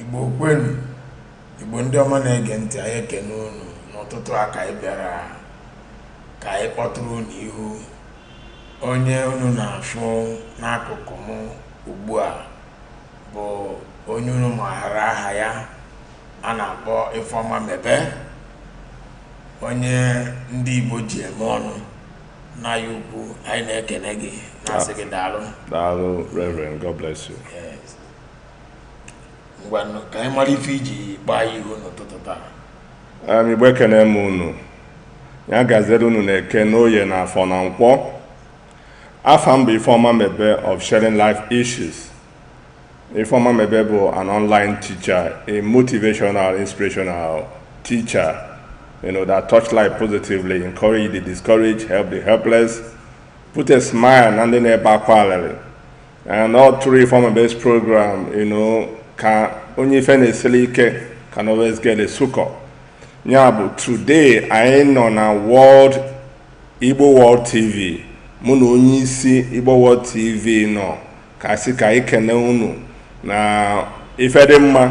igbo kwenu igbo ndị ọma na-ege ntị anyị ekene unu n'ụtụtụ a ka anyị bịara ka anyị kpọtụrụ unu ihu onye unu na-afụ n'akụkụ m ugbu a bụ onye unu maara aha ya a na-akpọ Ifeoma Mebe onye ndị Igbo ji eme ọnụ nne anyị ukwu anyị na-ekene gị na-asị gị daalụ daalụ reverend god bless you ngwanụ ka anyị mara ife iji gbaa ya ihu n'ụtụtụ taa um, igbo ekene m unu ya gazere unu n'eke n'oye n'afọ na nkwọ afa m bụ ifeọma mebe of sharing life issues Ifeoma Mebe bụ an online teacher, a motivational, inspirational teacher, you know, that touch life positively, encourage the discouraged, help the helpless, put a smile na ndị na-ebe akwa alịlị. And all through Ifeoma Mebe's program, you know, ka onye ife na-esili ike can always get a succor. Ya bụ today anyị nọ na World Igbo World TV mụ na onye isi Igbo World TV nọ ka a sị ka anyị kene unu na ife dị mma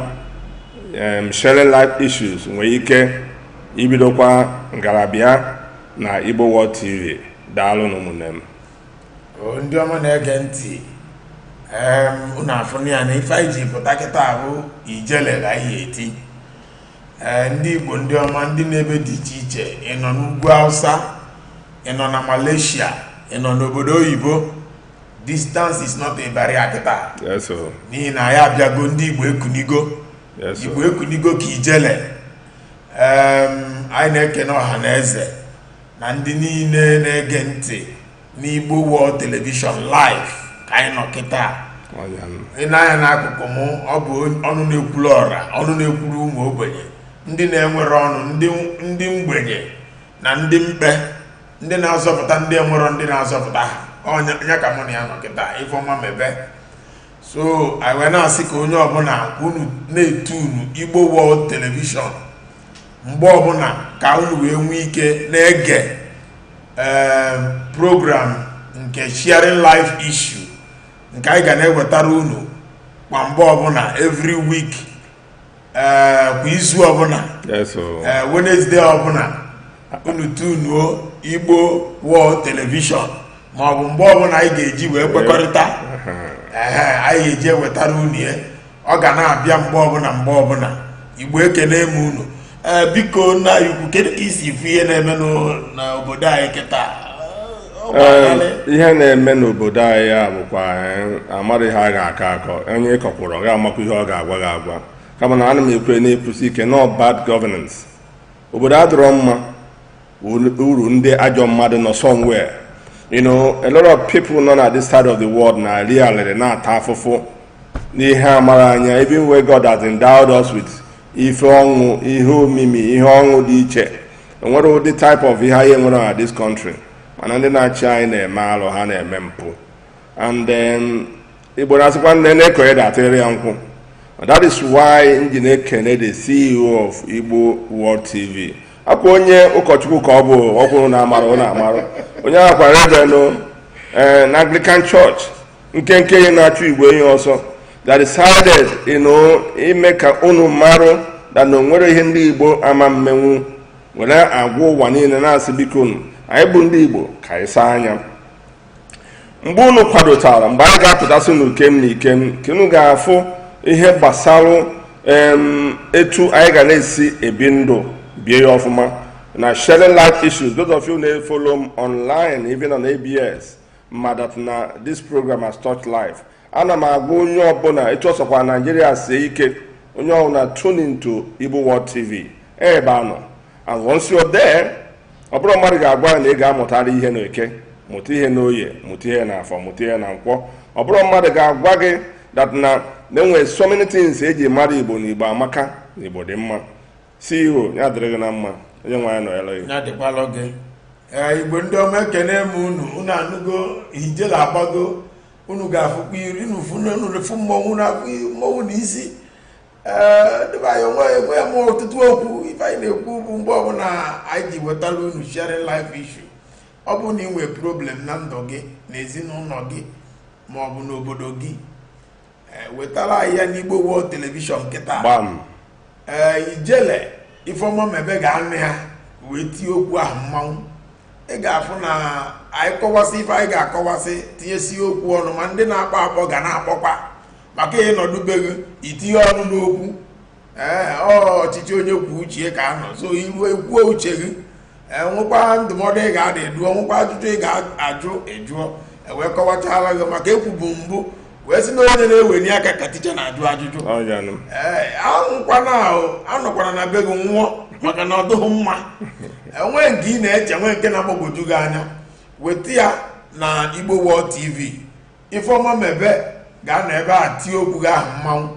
sharing life issues nwere ike ibidokwa ga na-abịa na Igbo World TV daalụnụ ụmụnne m ndị ọma na-ege ntị unu afụnụ ya na ife anyị ji pụta kịta bụ ijele ga ihe eti Eh, ndị Igbo ndị ọma ndị n'ebe dị iche iche ị nọ n'ugwu Hausa ị nọ na Malaysia ị nọ n'obodo oyibo distance is not a barrier kịta n'ihi na anyị abịago ndị igbo ekunigo igbo ekunigo ka ijele anyị na-ekene ọha na eze na ndị niile na-ege ntị n'igbo world television live ka anyị nọ kịta i nee anya n'akụkụ m ọ bụ ọnụ na-ekwuru ọra ọnụ na-ekwuru ụmụ ogbenye ndị na-enwerọ ọnụ ndị mgbenye na ndị mkpe ndị na-azọpụta ndị enwerọ ndị na-azọpụta ha onye ya ka mụ na ya nọ kịta ifeọma mebe so anyị wee na-asị ka onye ọbụla ka unu na-etunu igbo world telivishọn mgbe ọbụla ka unu wee nwee ike na-ege ee program nke sharing life issue nke anyị ga na-ewetara unu kwa mgbe ọbụla every week eh, kwa izu ọbụla eh, Wenesde ọbụla unu tunuo Igbo World Television ma ọ bụ mgbe ọbụla anyị ga-eji wee kwekọrịta anyị ga-eji ewetara unu ya ọ ga na-abịa mgbe ọbụla mgbe ọbụla Igbo ekene m unu Eh, biko nna anyị ukwu kedu ka i si ifu ihe na-eme n'obodo anyị kịta eh, ihe na-eme n'obodo anyị a bụkwa eh, amarọ ihe a ga-akọ akọ onye ị kọkwụrụ ga-amakwa ihe ọ ga-agwa gị agwa kama na ana m ekwu na-ekwusi ike na ọ bad governance obodo adịrọ mma uru ndị ajọ mmadụ nọ somewhere you know a lot of people nọ na this side of the world na reality na-ata afụfụ n'ihe amara anya even where God has endowed us with ife ọṅụ ihe omimi ihe ọṅụ dị iche onwerọ ụdị type of ihe anyị enwerọ na this country mana ndị na-achị anyị na-eme alụ ha na-eme mpụ and then igbo na-asịkwa nne na-ekonye datịrị ya nkwụ that is why m ji na-ekene the ceo of igbo world tv ọkwa onye ụkọchukwu ka ọ bụ ọkwụrụ na-amara ụlọ amara onye ahụ ọkwa reverend eh, na anglican church nkenke enyi na-achụ igwe enyi ọsọ that decided you know, ime ka unu marụ that na onwerọ ihe ndị igbo ama emenwu were agwa ụwa niile na-asị bikonụ anyị bụ ndị igbo ka anyị saa anya mgbe unu kwadotara mgbe anyị ga-apụtasị n'ukem na ikem ka unu ga-afụ ihe gbasara etu anyị ga na-esi ebi ndụ bie ya ọfụma na sharing life issues those of you na-efolo m online even on ABS ma that na this program has touched life ana m agwa onye ọbụla etu ọ sọkwa Naijiria sie ike onye ọbụla tune into Igbo World TV ebe a nọ and once you are there ọ bụrọ mmadụ ga-agwa na ị ga-amụtara ihe na eke mụta ihe na oye mụta ihe na afọ mụta ihe na nkwọ ọ bụrọ mmadụ ga-agwa gị that na na-enwe so many things eji mara igbo na igbo amaka na igbo dị mma ceo ya dịrị gị na mma onye nwe anyị nọnyere gị ya dịkwalụ gị ee igbo ndị ọma ekene m unu unu anụgo ijele agbago unu ga-afụkwa iri unu fụ mmọnwụ na mmọnwụ na isi ndị be anyị onwe enwe m ọtụtụ okwu ife anyị na-ekwu bụ mgbe ọbụla anyị ji wetara unu sharing life issue ọ bụ na ị nwee problem na ndụ gị na ezinụlọ gị ma ọ bụ n'obodo gị eh, wetara anyị ya n'Igbo World Television kịta ee eh, ijele Ifeoma Mebe ga-anụ ya wee tie okwu ahụ mmanwụ ị ga-afụ na anyị kọwasị ife anyị ga-akọwasị tinyesie okwu ọnụ ma ndị na-akpọ akpọ ga na-akpọkwa maka ị nọdụ be gị itinye ọnụ n'okwu ee ọchịchị onye kwuo uche ya ka a nọ so i ruo i kwuo uche gị enwekwa ndụmọdụ ị ga-adụ ị dụọ nwekwa ajụjụ ị ga-ajụ ị jụọ ewee kọwachala gị maka ekwubu mbụ wee sị na onye na-eweni aka ka ticha na-ajụ ajụjụ ee anwụkwana ahụ anọkwana na be gị nwụọ maka na ọ dụghị mma enwee nke ị na-eche nwee nke na-agbagwoju gị anya weta ya na Igbo World TV Ifeoma Mebe ga-anọ ebe a tie okwu gị ahụ mmanwụ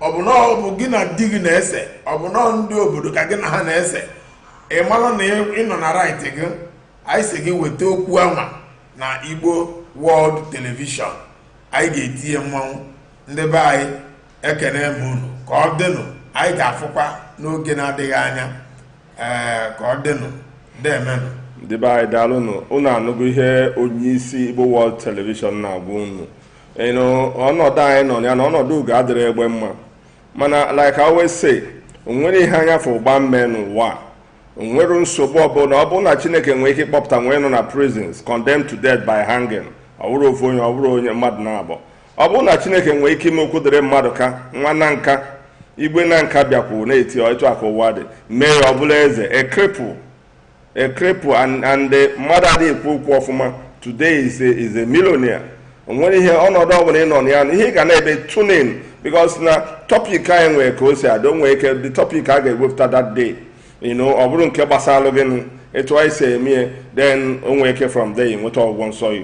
ọ bụ na ọ bụ gị na di gị na-ese ọ bụ na ndị obodo ka gị na ha na-ese ị malụ na ị nọ na right gị anyị sị gị weta okwu anwa na Igbo World Television anyị ga-eti ya mmanwụ ndị be anyị ekene m unu ka ọ dịnụ anyị ga-afụkwa n'oge na-adịghị anya ee ka ọ dịnụ deemenụ ndị be anyị daalụnụ unu anụgo ihe onye isi Igbo World Television na-agwa unu na ọnọdụ anyị nọ ya na ọnọdụ ugo adịrị egbe mma mana like I always say onwere ihe anya fụ gbaa mmee n'ụwa onwere nsogbu ọbụla ọ bụrụ na Chineke nwee ike ịkpọpụta onye nọ na prisons condemned to death by hanging ọ bụrụ ofu onye ọ bụrụ onye mmadụ naabọ ọ bụrụ na chineke nwee ike ime Okwudịrị Mmadụka nwa na nka igwe na nka bịakwuru na-eti etu a ka ụwa dị mee ya ọ bụla eze a cripple a cripple and mmadụ adịghị ekwu okwu ọfụma today is a is a millionaire o nwere ihe ọnọdụ ọbụla ị nọ na ya na ihe ị ga na-eme tune in because na topic anyị nwere ka o si adị o nwere ike the topic a ga-ewepụta that day you know ọ bụrụ nke gbasara gị etu anyị si eme ya then o nwere ike from there ị nweta ọgwụgwọ nsọ ya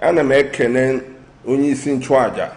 ana m ekene onye isi nchụaja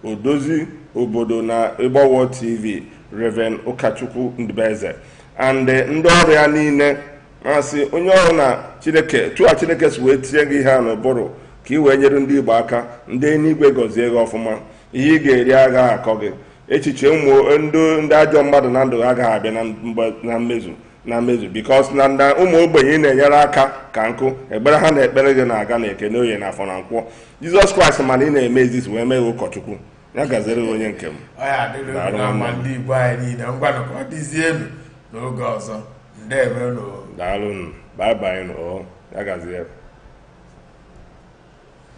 odozi obodo na Igbo World TV Reverend Ụkachukwu Ndụbeze and ndị ọrụ ya niile m asị onye ọrụ na chineke etu a chineke si wee tinye gị ihe a n'ụbụrụ ka ị wee nyere ndị igbo aka ndị eluigwe gọzie gị ọfụma ihe ị ga-eri agaghị akọ gị echiche ụmụ ndị ndị ajọ mmadụ na ndụ ha agaghị abịa na mgbe- na mmezu na mmezu because na na ụmụ ogbenye ị na-enyere aka ka nkụ ekpere ha na-ekpere gị na-aga na eke na oye na afọ na nkwọ jizọs kraịst mana ị na-eme this wee mee gị ụkọchukwu ya gaziere gị onye nke m ọ ya adịrị Daalụ unu na mma nwanne. ndị igbo anyị niile ngwanụ ka ọ dịzienụ n'oge ọzọ ndewe unu daalụ nụ bye bye nụ ọ ya gazie